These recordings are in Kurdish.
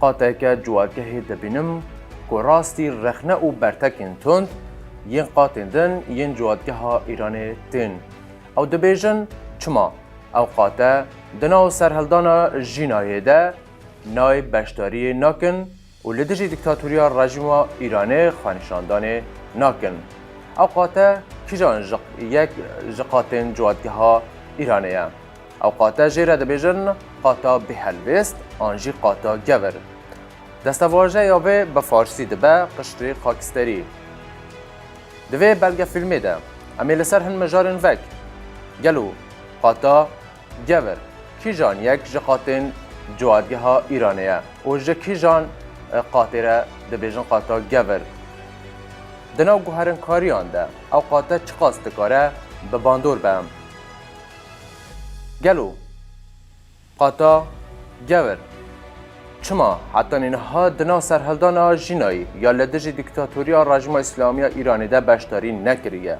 Qateke civakehê dibînim ku rastî rexne û bertekên tund yên qatên din yên civakgeha Îranê tên. Ew dibêjin çima ew qate di nav serhildana jînayê de nayê beşdariyê nakin û li dijî dîktatoriya rejîma Îranê xwenîşandanê nakin. Ew qate kîjan ji yek ji qatên civakgeha Îranê ye? Ew qate jê re dibêjin qata bêhelwêst an jî qata gewir. Destevajeya vê bi farsî dibe qişrê xaksterî. Di vê belgefîlmê de em ê li ser hin mijarên vek gelo qata gewir kîjan yek ji qatên civadgeha Îranê ye û ji kîjan qatê re dibêjin qata gewir. Di nav guherinkariyan de ew qate çiqas dikare bi bandor be. Gelo qata gewr çima hetanî niha di nav serhildana jînayî ya li dijî dîktatoriya Rejîma Îslamî ya Îranê de beşdarî nekiriye?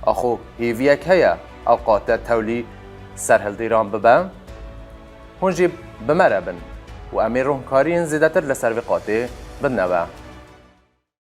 Axo hêviyek heye ev qate tewlî serhildêran bibe? Hûn jî bi me re bin û em ê rûnkariyên zêdetir li ser vê qatê bidneve.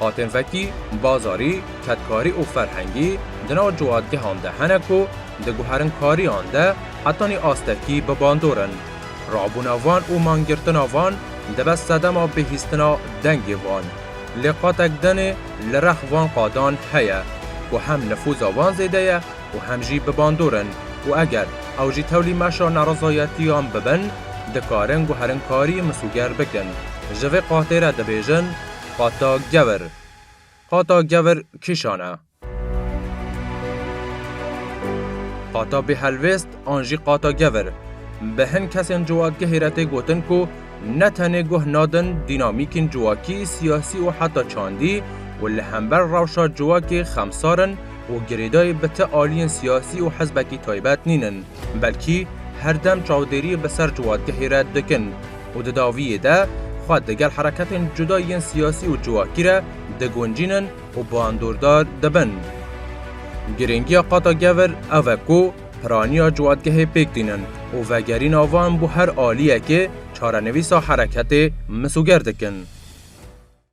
Hatên vekî, bazarî, kedkarî û ferhengî di nav ciwatgehan de hene ku di guherinkariyan de hetanî astekî bi bandor in. Rabûna van û mangirtina van dibe sedema bihîstina dengê van. Lê qatek din ê li rex van qadan heye ku hem nifûza van zêde ye û hem jî bi bandor in û eger ew jî tewlî meşa nerizayetiyan bibin dikarin guherinkarî misûger bikin. Ji vê qatê re dibêjin, Qata Gever Qata Gever kîşan e? Qata Bêhelwêst an jî Qata Gever bi hin kesên civakgehê re tê gotin ku ne tenê guh nadin dînamîkên civakî, siyasî û heta çandî û li hember rewşa civakê xemsar in û girêdayî bi ti aliyên siyasî û hizbekî taybet nîn in, belkî her dem çavdêriyê bi ser civakgehê re dikin. û di dawiyê de xwe di gel hereketên cuda yên siyasî û civakî re diguncînin û bandordar dibin. Girîngiya qata gevir ev e ku piraniya ciwadgehê pêk tînin û vegerîna wan bo her aliyekê çarenivîsa hereketê misoger dikin.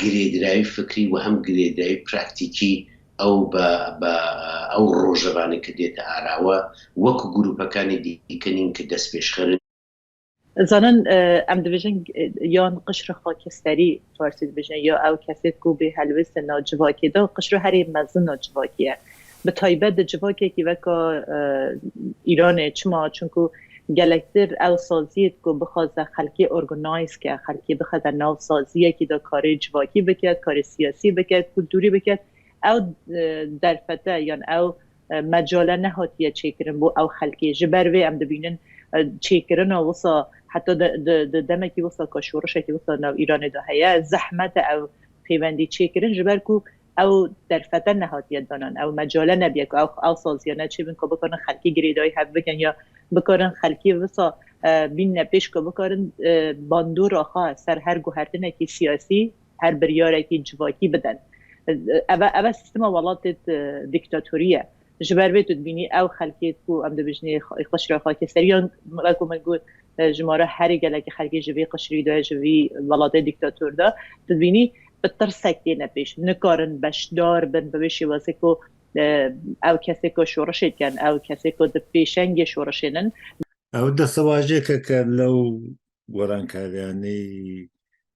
girêdayî fikrî û hem girêdayî praktîkî ew be be ew roje re ne ke dête ara we wek grûpekanê dîkinîn ke destpêşxer in. Ez zanin em dibêjin yan qişri xakeserî farsî dibêjin ya ew kesê ku bê helwêste na civakê de qişri herî mezin na civakî ye. bi taybet di civakekî weka Îranê çima çunku gelektir ew saziyê diko bixwaze xelkê organize ke xelkê bixeze nav saziyekî de karê civakî biket karê siyasî biket kulturî biket ew derfete yan ew mecale nehatiye çêkirin bo ew xelkê ji ber vê em dibînin çêkirina wisa heta di demekî wisa ka şorişekî wisa nav Îranê de heye zehmete ew pêwendî çêkirin ji ber ku Ew derfete nehatiye danan, ew mecale nebiye ku ew ew saziyane çêbin ku bikarin xelkî girêdayî hev bikin ya bikarin xelkî wisa bînne pêş ku bikarin bandora xwe ser her guhertinekî siyasî, her biryarekî civakî bidin. Ev e ev e sîstema welatê dîktatorî ye. Ji ber vê tu dibînî ew xelkê ku em dibijnê qişra xakê serî yan wek min got ji me re herî gelekî xelkê ji vê qişrî de ji vî welatê dîktator de tu dibînî bi tirsek têne pêş nikarin beşdar bin bi vê şêwazê ku ew kesê ku şorişê dikin ew kesê ku di pêşengê şorişên in. Ew destewajekeke lew gorankariyanî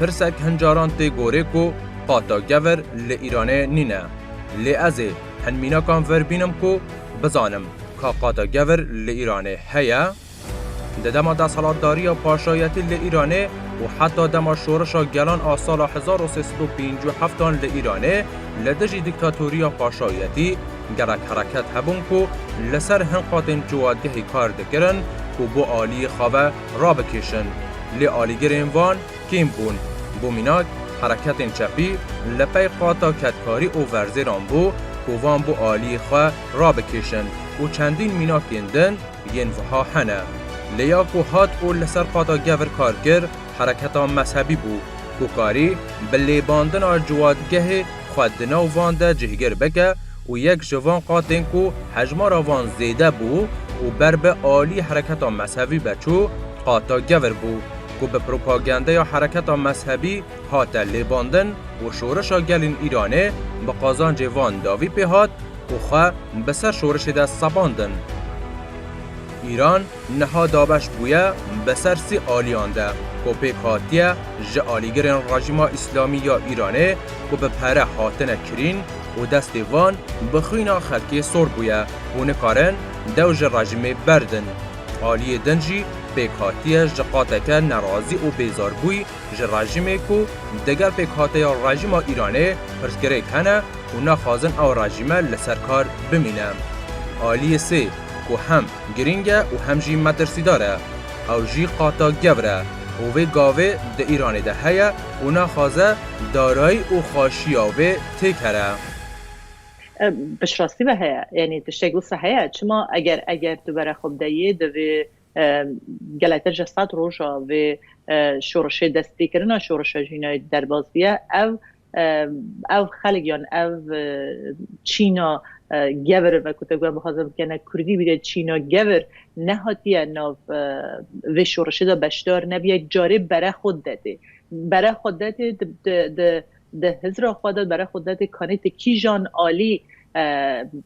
Pirsek hincaran tê gorê ku qata gevir li Îranê nîne. Lê ez ê hin mînakan vir bînim ku bizanim ka qata gevir li Îranê heye? Di dema desthilatdariya paşayetî li Îranê û heta dema şorişa gelan a sala hezar û sê sed û pêncî û heft an li Îranê li dijî dîktatoriya paşayetî gelek hereket hebûn ku li ser hin qatên ciwadgehê kar dikirin û bo aliyê xwe rabikêşin. Lê alîgirên van kêm bûn. Bo mînak, hereketên çepî li pey qata kedkarî û verzêran bû ku van bo aliyê xwe rabikêşin û çendîn mînakên din yên wiha hene. Lê ya ku hat û li ser qata gevr kar kir hereketa mezhebî bû ku karî bi lêbandina ciwadgehê xwe di nav van de cihgir bike, û yek ji van qatên ku hejmara van zêde bû û ber bi alî hereketa mezhevî ve çû, qata Gevir bû, ku bi propagandeya hereketa mezhebî hate lêbandin û şorişa gelên Îranê bi qazancê van dawî pê hat û xwe bi ser şorişê de sepandin. Îran, Niha dabeş bûye bi ser sê aliyan de ku pêk hatiye ji alîgirên Rejîma Îslamî ya Îranê ku bi pere hatine kirîn û destê van bi xwîna xelkê sor bûye û nikarin dew ji rejîmê berdin. Aliyê din jî pêk hatiye ji qateke nerazî û bêzarbûy ji rejîmê ku digel pêkhateya Rejîma Îranê pirsgirêk hene û naxwazin ew rejîme li ser kar bimîne. Aliyê sê ku hem. Girîng e û hem jî metirsîdar e. Ew jî qata gewr e û vê gavê di Îranê de heye û naxwaze darayî û xweşiya wê têk here. Piştrastî ve heye, yanî tiştek wisa heye, çima eger eger tu were xwe bide yê divê gelek te ji sed roja vê şorişê destpêkirina şorişa jînayê derbas biye, ew ev xelk yan ev çîna gevir ve ku te guya bixwazin bikene kurdî bîre çîna gevir nehatiye nav vê şorişê de beşdar nebiye carê bere xwe dedê bere xwe dedê di hizra xwe de bere xwe dedê kanê ti kîjan alî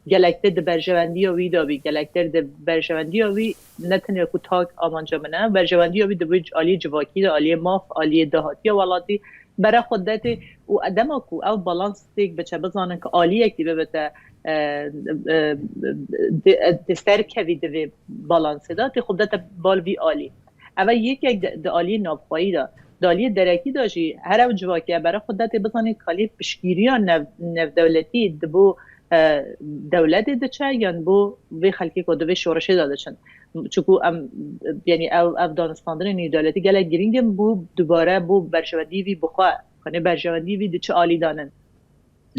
gelek te di berjewendiya wî de bî gelek te di berjewendiya wî Ne tenya ku tak amanca min e, berjewendiya wî divê aliyê civakî de, aliyê maf, aliyê dahatiya welatî bere xwe derê û dema ku ev balans têk biçe, bizanin ku aliyekî bibite dê serkevî di vê balansê de, tê xwe bidete bal vî aliyê. Ev e yekek di aliyê navxweyî de. Di aliyê derekî de jî her ew civakiya bere xwe derê, bizanîn ku aliyê piştgîriya navdewletî di bo dewletê diçe yan bo vê xelkê ku di vê şoreşê de diçin. Çunku em yanî ew ev danûstandinên nêwdewletî gelek girîng in bo dubare bo berjewendî vî bi xwe xwînê berjewendî vî di çi alî de nin.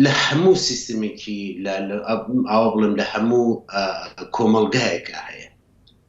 Li hemû sîstemekî li awa bilim li hemû komelgeheke heye.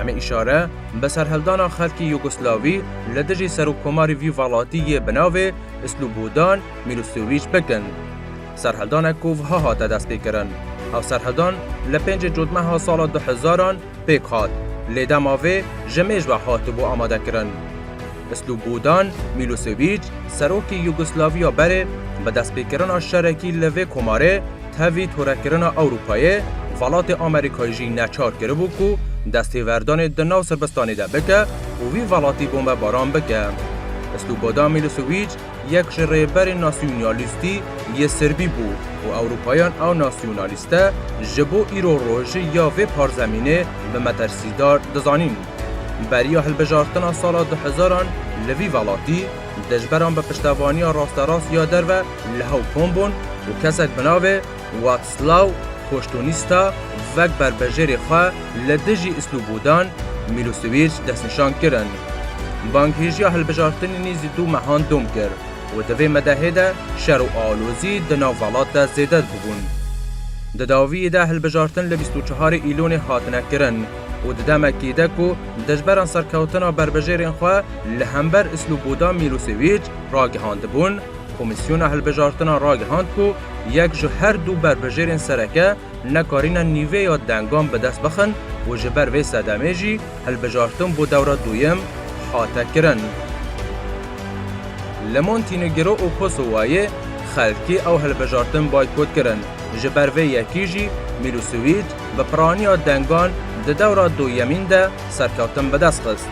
Em ê îşare bi serhildana xelkê Yugoslavî li dijî serokkomarê vî welatî yê bi navê Slûbodan Mîlosewîç bikin. Serhildanek ku wiha hate destpêkirin, Ev serhildan li pêncê cotmeha sala du hezaran pêk hat, lê dema vê ji mêj ve hatibû amadekirin. Slûbodan Mîlosewîç, serokê Yugoslaviya berê, bi destpêkirina şerekî li vê komarê, Tevî torekirina Ewropayê, Welatê Amerîkayê jî neçar kiribû ku destêverdanê di nav Sirbistanê de bike û vî welatî bombebaran bike. Slobodan Milosewîc yek ji rêberên nasyonalîstî yê Sirbî bû û Ewropayan ew nasyonalîste ji bo îro rojî ya vê parzemînê bi metirsîdar dizanîn. Beriya hilbijartina sala du hezaran li vî welatî, Dijberan bi piştevaniya rasterast ya derve li hew kom bûn û kesek bi navê Watslaw Koştûnista vek berbejêrê xwe li dijî Islubudan Mîlosewîç destnîşan kirin. Banghêjiya hilbijartinê nêzî du mehan dom kir û di vê medehê de şer û alozî di nav velat de zêde dibûn. Di dawiyê de hilbijartin li bîst û çehar Îlonê hatine kirin û di demekê de ku dijberan serkewtina berbejêrên xwe Li hember Isloboda Mîlosewîç ragihandibûn, Komîsyona Hilbijartina ragihand ku yek ji her du berbijêrên sereke nekarîne nîvêya dengan bi dest bixin û ji ber vê sedemê jî hilbijartin bo dewra duyem hate kirin. Li Montinegro û Kosowayê xelkê ew hilbijartin baykot kirin, ji ber vê yekî jî Mîlosewîç bi piraniya dengan di dewra duyemîn de serkeftin bi dest xist.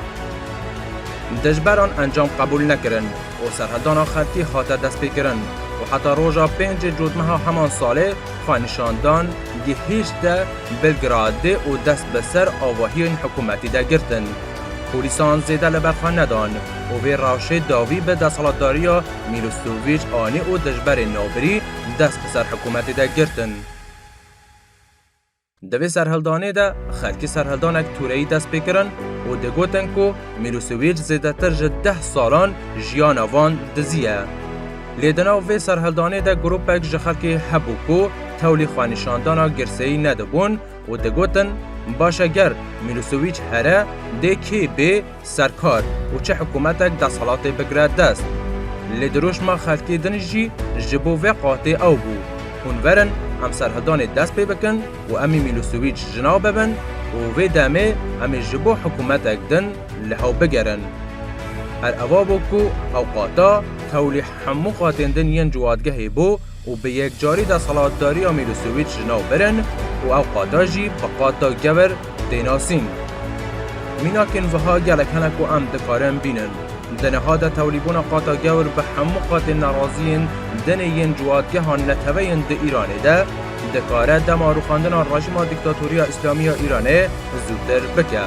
Dijberan encam qebûl nekirin û serhildana xelkî hate destpêkirin û heta roja pêncê cotmeha heman salê xwe nîşan dan gihîşte Belgradê û dest bi ser avahiyên hikûmetî de girtin. Polîsan zêde li ber xwe nedan û vê rewşê dawî bi desthilatdariya Mîlosewîç anî û dijberên navbirî dest bi ser hikûmetê de girtin. Di vê serhildanê de xelkî serhildanek tûreyî dest pê kirin û digotin ku Mîrûsîwîr zêdetir ji deh salan jiyana van dizî ye. Lê di nav vê serhildanê de grûpek ji xelkê hebû ku tewlî xwenîşandana girseyî nedibûn û digotin, Baş e ger Mîrûsîwîç here dê kê bê, Serkar û çi hikûmetek desthilatê bigire dest. Lê dirûşma xelkê din jî ji bo vê qatê ew bû, Hûn verin em serhidanê dest pê bikin û em ê Mîlosewîç ji nav bibin û vê demê em ê ji bo hikûmetek din li hew bigerin. Her eva bû ku hewqata tewlî hemû qatên din yên ciwadgehê bû, û bi yekcarî desthilatdariya Mîlosewîç ji nav birin û ew qada jî bi qada gewr tê nasîn. Mînakên wiha gelek hene ku em dikarin bînin. Di niha de tewlîbûna qada gewr bi hemû qadên neraziyên dinê yên ciwatgeha netewê yên di Îranê de dikare dema rûxandina rejîma dîktatoriya Îslamî ya Îranê zûtir bike.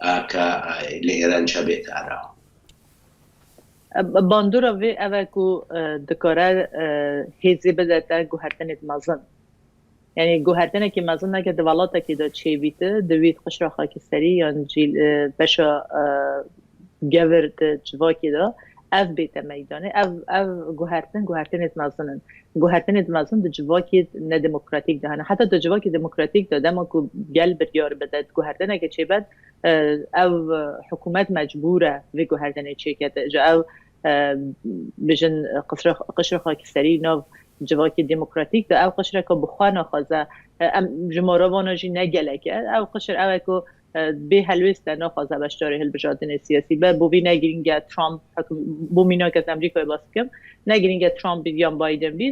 A ka li Îran ça bê kar a? Bandora vê ev e ku dikare hêzê bide te guhertinêk mezin. Yanî guhertinekî mezin neke di welatekî de çê bî ti di wî qişra xakiserî yan jî li beşa gevir di civakê de ev bê te meydanê. Ev ev guhertin guhertinêk mezin in. Guhertinê di mezin di civakî nedemokratîk de hene. Heta di civakî demokratîk de dema ku gel biryar bide di guhertineke çêbed ew hikûmet mecbûr e vê guhertinê çêkete. Ji ew bijin qişra xakîserî nav civakî demokratîk de ew qişreke bi xwe naxwaze. Em ji mara vana jî ne gelek e. Ew qişir ew e ku Bê helwêst e, naxwaze beşdarî hilbijardinê siyasî be. Bo vî ne girîng e Trump hekum, bo mînak ez Amerîkayê bas bikim, ne girîng e Trump bî yan Biden bî,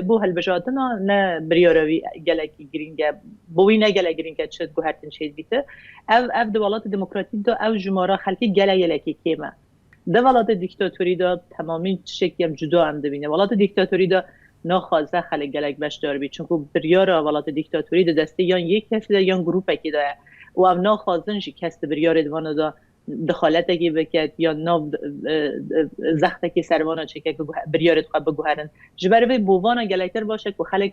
bo hilbijardina ne biryara wî gelekî girîng e. Bo wî ne gelek girîng e çi guhertin çêdibîti. Ev ev di welatê demokratîk de ew jimara xelkê gele yelekê kêm e. Di welatê dîktatorî de temamîn tiştekî em cuda em dibînin. Welatê dîktatorî de naxwaze xelk gelek beşdar bî. Çimkû biryara welatê dîktatorî di destê yan yek kesî de yan grûpekî de ye û ew naxwazin jî kes di biryarê di vana de dexaletekî bike yan nav zextekî ser vana çêke ku biryarê di xwe biguherin. Ji ber vê bo vana gelektir baş e ku xelk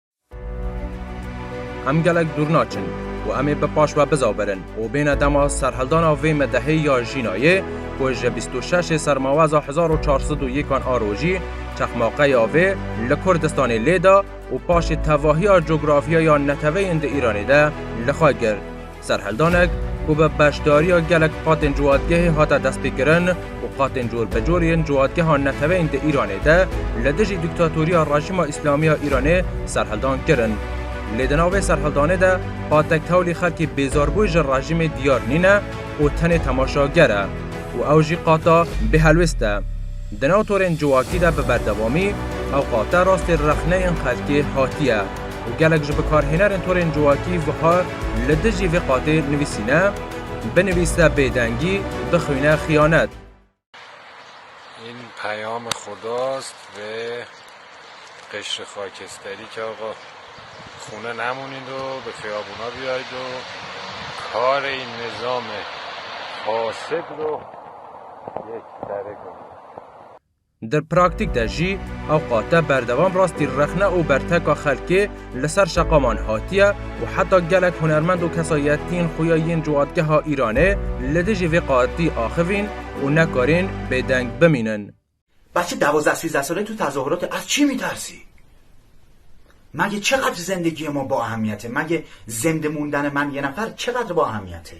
Em gelek dûr naçin û em ê bi paş ve bizavirin û bêne dema serhildana vê medehê ya Jînayê ku ji bîst û şeşê sermaweza hezar û çar sed û yêkan a rojî çexmaqeya vê li Kurdistanê lê da û paşê tevahiya cografîya ya neteweyên di Îranê de li xwe girt. Serhildanek ku bi beşdariya gelek qatên ciwadgehê hate destpêkirin û qatên corbicor yên ciwadgeha neteweyên di Îranê de li dijî dîktatoriya Rejîma Îslamî ya Îranê serhildan kirin. Lê di nav vê serhildanê de hate kewlî xelkê bêzarbû ji rejîmê diyar nîne û tenê temaşager e û ew jî qata bêhelwêst e. Di nav torên civakî de bi berdewamî ew qate rastê rexneyên xelkê hatiye. Gelek ji bikarhênerên torên civakî wiha li dijî vê qatê nivîsîne, Binivîse bêdengî, bixwîne xiyanet. În peyamê xwe dost vê qeşrê xakesterî ke axa xûne nemonîn do bi fiyabûna bîyay do karê nizamê fasid do yek serê bimîne. Di praktîk de jî ewqa te berdewam rastî rexne û berteka xelkê li ser şeqaman hatiye û heta gelek hunermend û kesayetiyên xuya yên ciwadgeha Îranê li dijî vê qatî axivîn û nekarên bêdeng bimînin. Bacı dawozda sîzda sale tu tazohurotê az çî mîtarsî? Magê çeqadr zendegiyê ma bo ehemiyetê? Magê zendemûndane man yê nefer çeqadr bo ehemiyetê?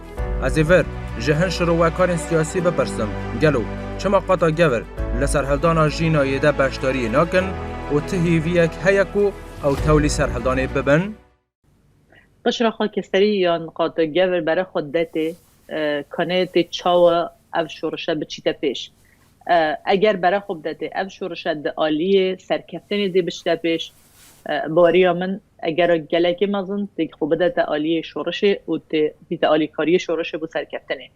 Ez ê vir ji hin şirowekarên siyasî bipirsim, gelo çima qata gevr li serhildana Jînayê de beşdariyê nakin û ti hêviyek heye ku ew tewlî serhildanê bibin? Qişraxa Keserî yan qata gevr bere xwe dide tê kanê tê çawa ev şorişe biçîte pêş. Eger bere xwe bide tê ev şorişe di aliyê serkeftinê dê biçite pêş Baweriya min e gera gelekî mezin tê xwe bidete aliyê şorişê û tê bîte alîkariyê şorişê bo serkeftinê.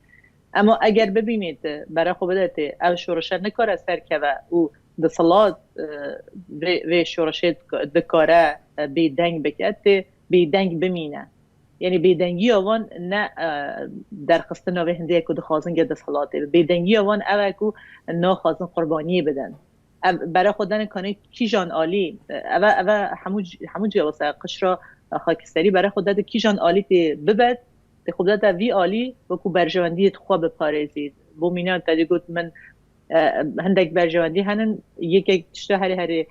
Ema eger bibînê ti bere xwe bidetê ev şorişe nikare serkeve û disilat vê vê şorişê dikare bêdeng bike tê bêdeng bimîne. Yanî bêdengiya wan ne derxistina vê hindê ye ku dixwazin ge disilatê be. Bêdengiya wan ew e ku naxwazin qurbaniyê bidin. Ev bere xwe dane kanê kîjan alî ev e, ev e hemû hemû cîya wisa ye. Qişra xakîserî bere xwe dade kîjan alî tê bibed, tê xwe bidade vî alî wekû berjewendiyê di xwe biparêzî. Bo mîna tedê got min hindek berjewendî henin, yekek tişta herê herê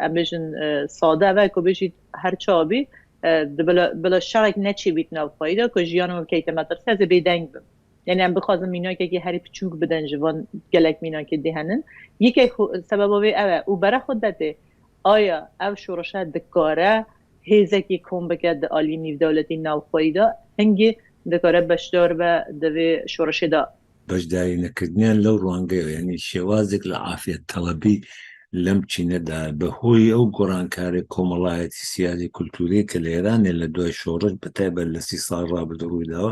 em bêjin sade ev e ku bêjî her çawa bî bila bila şerek neçêbît nav xweyî de ku jiyana min bikeyte metirse ez ê bêdeng bim. Yanî em bixwazin mînakekî herî piçûk bidin ji van gelek mînakê dê henin. Yekek sebeba wê ew e û bere xwe de tê. Aya ev şoreşe dikare hêzekî kom bike di aliyê nîvdewletî navxweyî de? Hingî dikare beşdar be di vê şoreşê de? Beşdarînekiriniyan lew rwangeyo yanî şêwazek li afettewebî lem çîne de bi hoyî ew gorankarê komelayetî-siyasî-kulturî ke li Îranê li duay şoreş bi taybet li sî sal rabit rûydawa